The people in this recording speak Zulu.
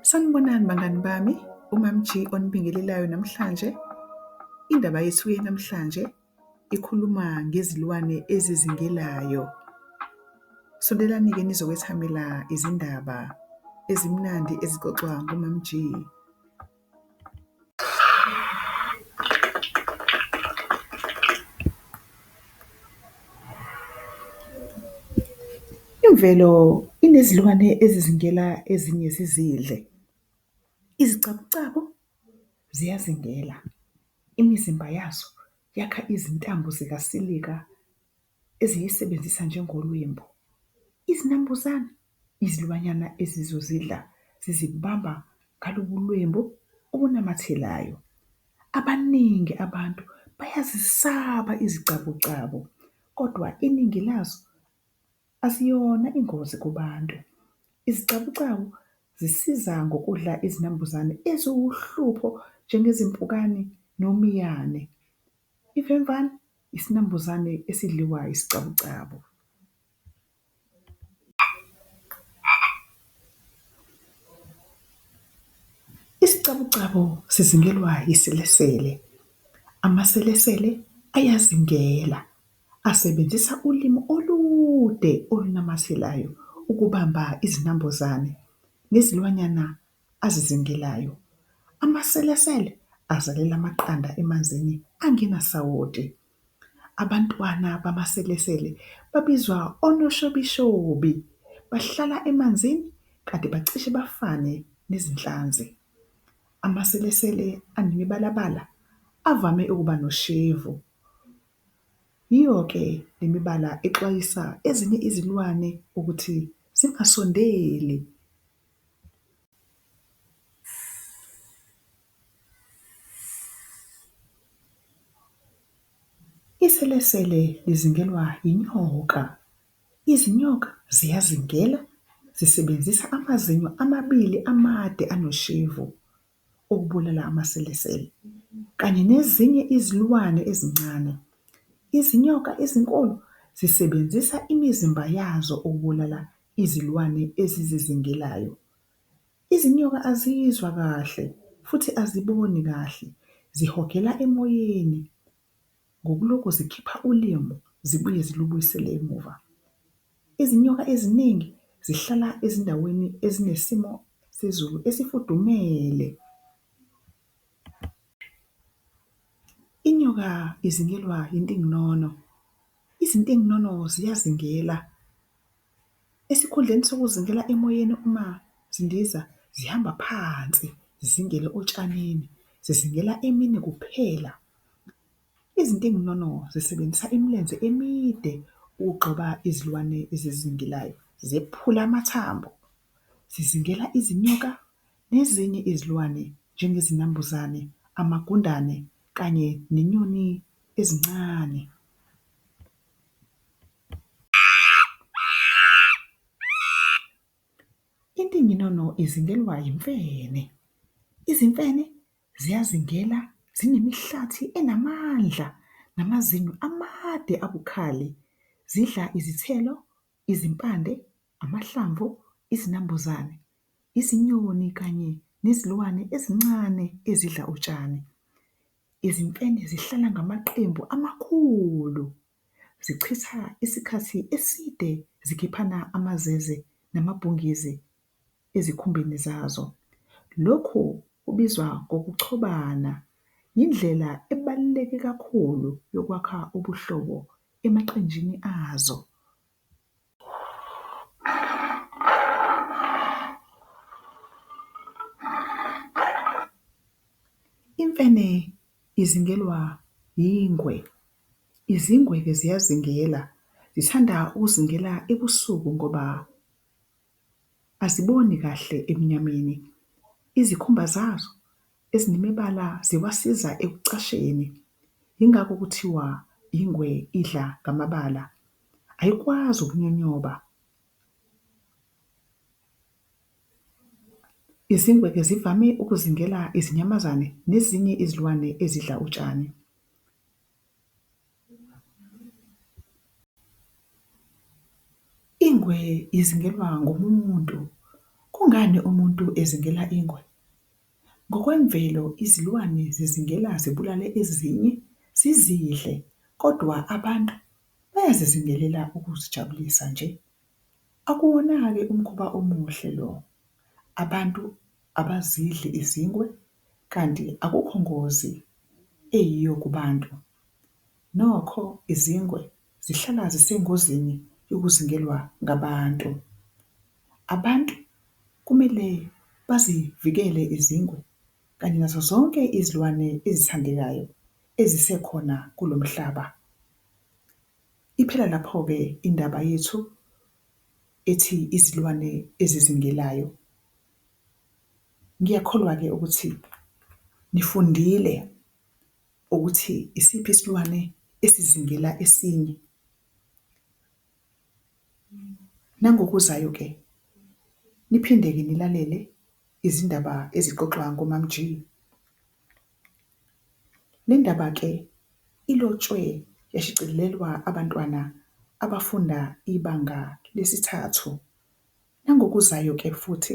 Sanibonani bangani bami, uMamG onibingelelayo namhlanje. Indaba yethu namhlanje ikhuluma ngezilwane ezizingelayo. Sondelani-ke nizokwethamela izindaba ezimnandi ezixoxwa nguMamG. Imvelo inezilwane ezizingela ezinye zizidle. Izicabucabu ziyazingela, imizimba yazo yakha izintambo zikasilika. eziyisebenzisa njengolwembu. Izinambuzane izilwanyana ezizozidla zizibamba ngalobu lwembu obunamathelayo. Abaningi abantu bayazisaba izicabucabu kodwa iningi lazo aziyona ingozi kubantu. Izicabucabu zisiza ngokudla izinambuzane eziwuhlupho njengezimpukane nomiyane. Ivemvane Isinambuzane esidliwa isicabucabu. Isicabucabu sizingelwa yiselesele. Amaselesele ayazingela asebenzisa ulimi olude olunamathelayo ukubamba izinambuzane nezilwanyana azizingelayo. Amaselesele azalela amaqanda emanzini angenasawoti. Abantwana bamaselesele babizwa onoshobishobi. Bahlala emanzini kanti bacishe bafane nezinhlanzi. Amaselesele anemibalabala avame ukuba noshevu. Yiyo-ke le mibala exwayisa ezinye izilwane ukuthi zingasondeli. Iselesele lizingelwa yinyoka. Izinyoka ziyazingela zisebenzisa amazinyo amabili amade anoshevu. ukubulala amaselesele kanye nezinye izilwane ezincane. Izinyoka ezinkulu zisebenzisa imizimba yazo ukubulala izilwane ezizizingelayo. Izinyoka azizwa kahle futhi aziboni kahle, zihogela emoyeni Ngokulokhu zikhipha ulimu zibuye zilubuyisele emuva, izinyoka eziningi zihlala ezindaweni ezinesimo sezulu esifudumele. Inyoka izingelwa intinginono, izintinginono ziyazingela. esikhundleni sokuzingela emoyeni uma zindiza zihamba phansi zizingele otshanini, zizingela emini kuphela. Izintinginono zisebenzisa imilenze emide ukugxoba izilwane ezizingelayo zephula amathambo, zizingela izinyoka nezinye izilwane njengezinambuzane, amagundane kanye nenyoni ezincane. Intinginono izingelwa yimfene. Izimfene ziyazingela zinemihlathi enamandla namazinyo amade abukhali. Zidla izithelo, izimpande, amahlamvu, izinambuzane, izinyoni kanye nezilwane ezincane ezidla utshani. Izimfene zihlala ngamaqembu amakhulu, zichitha isikhathi eside zikhiphana amazeze namabhungizi ezikhumbeni zazo. Lokhu kubizwa ngokuchobana, yindlela ebaluleke kakhulu yokwakha ubuhlobo emaqenjini azo. Imfene izingelwa yingwe. Izingwe-ke ziyazingela, zithanda ukuzingela ebusuku ngoba Aziboni kahle ebumnyameni. Izikhumba zazo ezinemibala ziwasiza ekucasheni, yingakho kuthiwa ingwe idla ngamabala. Ayikwazi ukunyonyoba. Izingwe-ke zivame ukuzingela izinyamazane nezinye izilwane ezidla utshani. Ingwe izingelwa ngomunye umuntu. Kungani umuntu ezingela ingwe? Ngokwemvelo izilwane zizingela zibulale ezinye zizidle kodwa abantu bayazizingelela ukuzijabulisa nje. Akuwona-ke umkhuba omuhle lo, abantu abazidli izingwe. kanti akukho ngozi eyiyo kubantu. Nokho izingwe zihlala zisengozini yokuzingelwa ngabantu. Abantu kumele bazivikele izingwe kanye nazo zonke izilwane ezithandekayo ezisekhona kulo mhlaba. Iphela lapho-ke indaba yethu ethi izilwane ezizingelayo. Ngiyakholwa-ke ukuthi nifundile ukuthi isiphi isilwane esizingela esinye. Nangokuzayo-ke niphinde-ke nilalele izindaba ezixoxwa ngoMaMG. Le ndaba-ke ilotshwe yashicilelwa abantwana abafunda ibanga lesithathu. Nangokuzayo-ke futhi.